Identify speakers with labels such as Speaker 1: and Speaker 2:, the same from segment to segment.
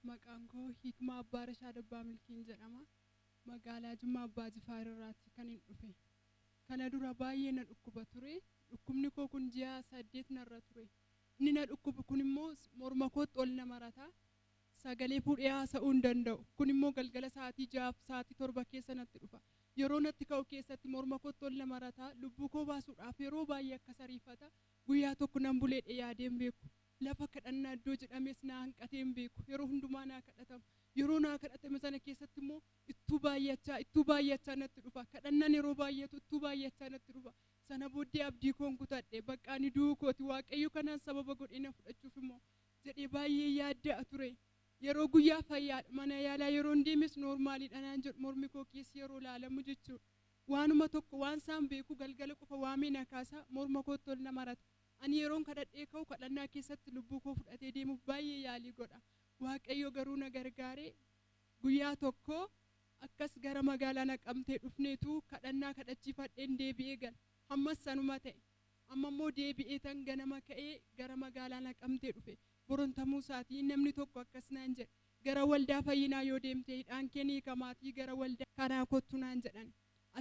Speaker 1: Maqaan koo Hikmaa Abbaa Rashaad Abbaa Milkiin jedhama. Magaalaa Jimmaa Abbaa Jifaar irraatti kan hin dhufe. Kana dura baay'ee na dhukkuba ture. Dhukkubni koo kun ji'a saddeet narra ture. Inni na dhukkubu kun immoo morma kootti ol na marata. sagalee fuudhee haasa'uu hin danda'u. Kun immoo galgala sa'aatii 6 fi sa'aatii 7 keessa natti dhufa. Yeroo natti ka'u keessatti morma kootti ol na marata, lubbuu koo baasuudhaaf yeroo baay'ee akkas ariifata. Guyyaa tokko nan buleedhe yaadee hin beeku. Lafa kadhannaa iddoo jedhamees naa hanqatee hin beeku. Yeroo hundumaa naa kadhatama. Yeroo naa kadhatame sana keessatti immoo ittuu baay'achaa, ittuu baay'achaa natti dhufa. Kadhannaan yeroo baay'atu ittuu baay'achaa natti dhufa. Sana booddee abdii koon kutadhe. Baqqa ani du'uu kooti. Waaqayyo kanaan sababa godhee na fudhachuuf immoo jedhee baay'een yaadda'a ture. Yeroo guyyaa fayyaadha mana yaalaa yeroon deemes noormaaliidha naan jedhu mormi koo keessa yeroo laalamu jechuudha. Waanuma tokko waansaan beeku galgala qofa waamee na kaasa morma kootti ol na marata. Ani yeroon kadhadhee ka'u kadhannaa keessatti lubbuu koo fudhatee deemuuf baay'ee yaalii godha. Waaqayyo garuu na gargaaree guyyaa tokko akkas gara magaalaa Naqamtee dhufneetu kadhannaa kadhachiifadheen deebi'ee gala. Hammas sanuma ta'e. Amma immoo deebi'eetan ganama ka'ee gara magaalaa Naqamtee dhufe. Boron tamuu isaatii namni tokko akkas naan jedhe, Gara waldaa fayyinaa yoo deemte hidhaan kee ni hiikamaatii gara waldaa kanaa kottu naan jedhan.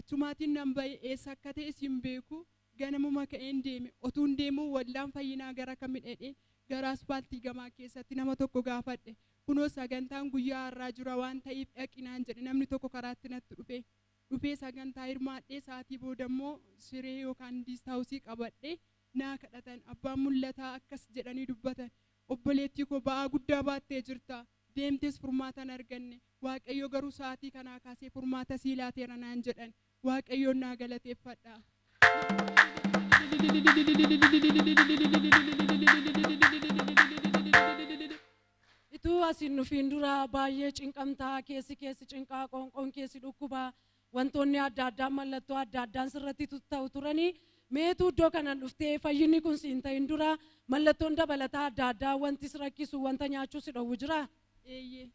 Speaker 1: Achumaatiin nan ba'e, eessa akka ta'es hin beeku. Ganamuma ka'een deeme. Otuun deemuu waldaan fayyinaa gara kami dhedhee gara aspaaltii gamaa keessatti nama tokko gaafadhe. Kunoo sagantaan guyyaa har'aa jura waan ta'iif dhaqi naan jedhe namni tokko karaatti natti dhufee. dhufee sagantaa hirmaadhee sa'aatii booda immoo siree yookaan diist haawusii qabadhee naa kadhatan. Abbaan mul'ataa akkas jedhanii dubbatan, Obboleettii koo ba'aa guddaa baattee jirta, deemtees furmaata hin arganne. Waaqayyo garuu sa'aatii kanaa kaasee furmaata sii laateera naan jedhan. Waaqayyoon naa galateeffadha.
Speaker 2: Ituu as hin dhufiin dura baay'ee cinqamta, keessi kee si cinqa, qoonqoon kee si dhukkuba, wantoonni adda addaa mallattoo adda addaan sirratti tutta'u turani. Mee ituu iddoo kanan dhuftee fayyinni kun si hin ta'in dura mallattoon dabalataa adda addaa wanti si rakkisu, wanta nyaachuu si dhowwu jiraa? Eeyyee.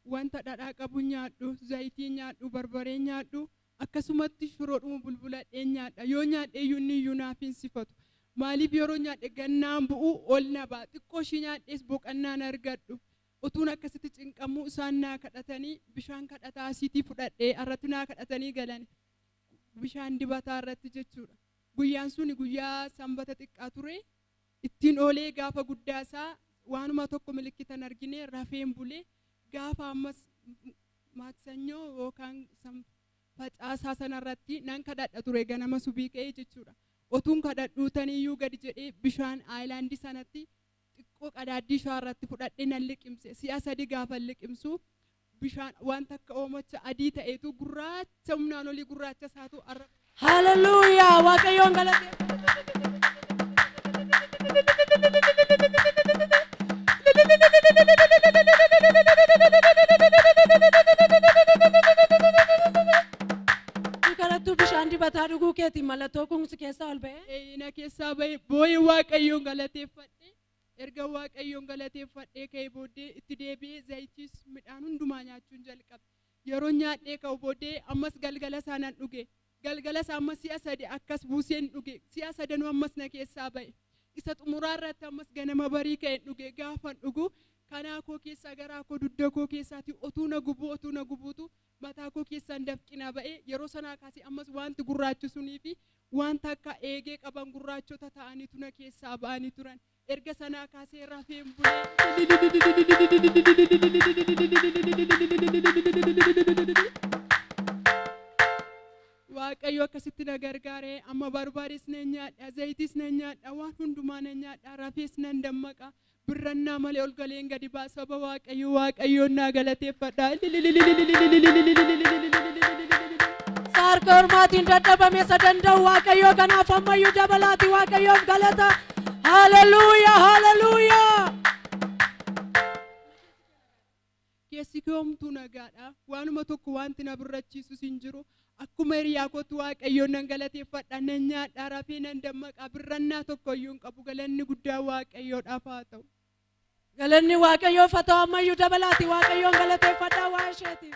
Speaker 1: Wanta dhadhaa qabu nyaadhu, zayitii nyaadhu, barbaree nyaadhu, Akkasumatti shiroodhuma bulbuladheen nyaadha. Yoo nyaadheeyyuu inniyyuu naaf hin sifatu. Maaliif yeroon nyaadhe gad naan bu'u, ol na ba'a. Xiqqoo ishii nyaadhees boqannaan argadhu. Utuun akkasitti cinqamuu isaan naa kadhatanii bishaan kadhataa asiitii fudhadhee irratti naa kadhatanii galani. Bishaan dibataa irratti jechuudha. Guyyaan suni guyyaa sanbata xiqqaa ture. Ittiin oolee gaafa guddaa isaa waanuma tokko milikkita hin argine rafeen bule. Gaafa ammas Maaksanyoo yookaan san facaasaa sanarratti nan kadhadha ture ganama subii ka'ee jechuudha. Otuun kadhadhuu taniyyuu gadi jedhee bishaan aayilaandii sanatti xiqqoo qadaaddii shaarratti fudhadhee nan liqimse. Si'a sadi gaafan liqimsu bishaan waan takka oomacha adii ta'etu gurraacha humnaan olii gurraacha isaatu arraba. Hallelujah!
Speaker 2: Waaqayyoon galateeffadha. Si kadhattuu bishaan dibataa dhuguu keetiin mallattoo kun si keessaa ol ba'ee. Eeyyina keessaa ba'e
Speaker 1: boo'ee waaqayyoon galateeffadhe. Erga waaqayyoon galateeffadhee ka'ee booddee itti deebi'ee zayitis midhaan hundumaa nyaachuun jalqabe. Yeroon nyaadhee ka'u bodee ammas galgala isaa nan dhuge. Galgala isaa ammas si'a sadi akkas buuseen dhuge. Si'a sadanuu ammas na keessaa ba'e. Isa xumuraa irratti ammas ganama barii ka'een dhuge. Gaafan dhugu kanaa koo keessaa garaa koo dudda koo keessaatii otuu na gubuu otuu na gubuutu mataa koo keessaan dafqi na ba'e. Yeroo sanaa kaasee ammas waanti gurraachi sunii fi waanta akka eegee qaban gurraachota ta'aniitu na keessaa ba'anii turan. Erga sanaa kaasee rafee hin bule. Waaqayyo akkasitti na gargaare amma barbaadees nan nyaadha zayitis nan nyaadha waan hundumaa nan nyaadha rafees nan dammaqa birrannaa malee ol galeen gadi ba'a saba waaqayyo waaqayyoon naa galateeffadha.
Speaker 2: Saarka ormaatiin dadhabame isa danda'u Waaqayyoo kanaaf ammayyuu dabalaati Waaqayyoof galata Haleluya, haleluya.
Speaker 1: Keessi kee homtuu nagaadha. Waanuma tokko wanti na birrachiisus hin jiru. Akkuma hiriyaa kootti Waaqayyoon nan galateeffadha. Nan nyaadha, rafee nan dammaqa. Birrannaa tokko iyyuu hin qabu. Galanni guddaa Waaqayyoodhaaf haa ta'u. Galanni
Speaker 2: Waaqayyoof haa ta'u ammayyuu dabalaati Waaqayyoon galateeffadhaa waan isheetiif.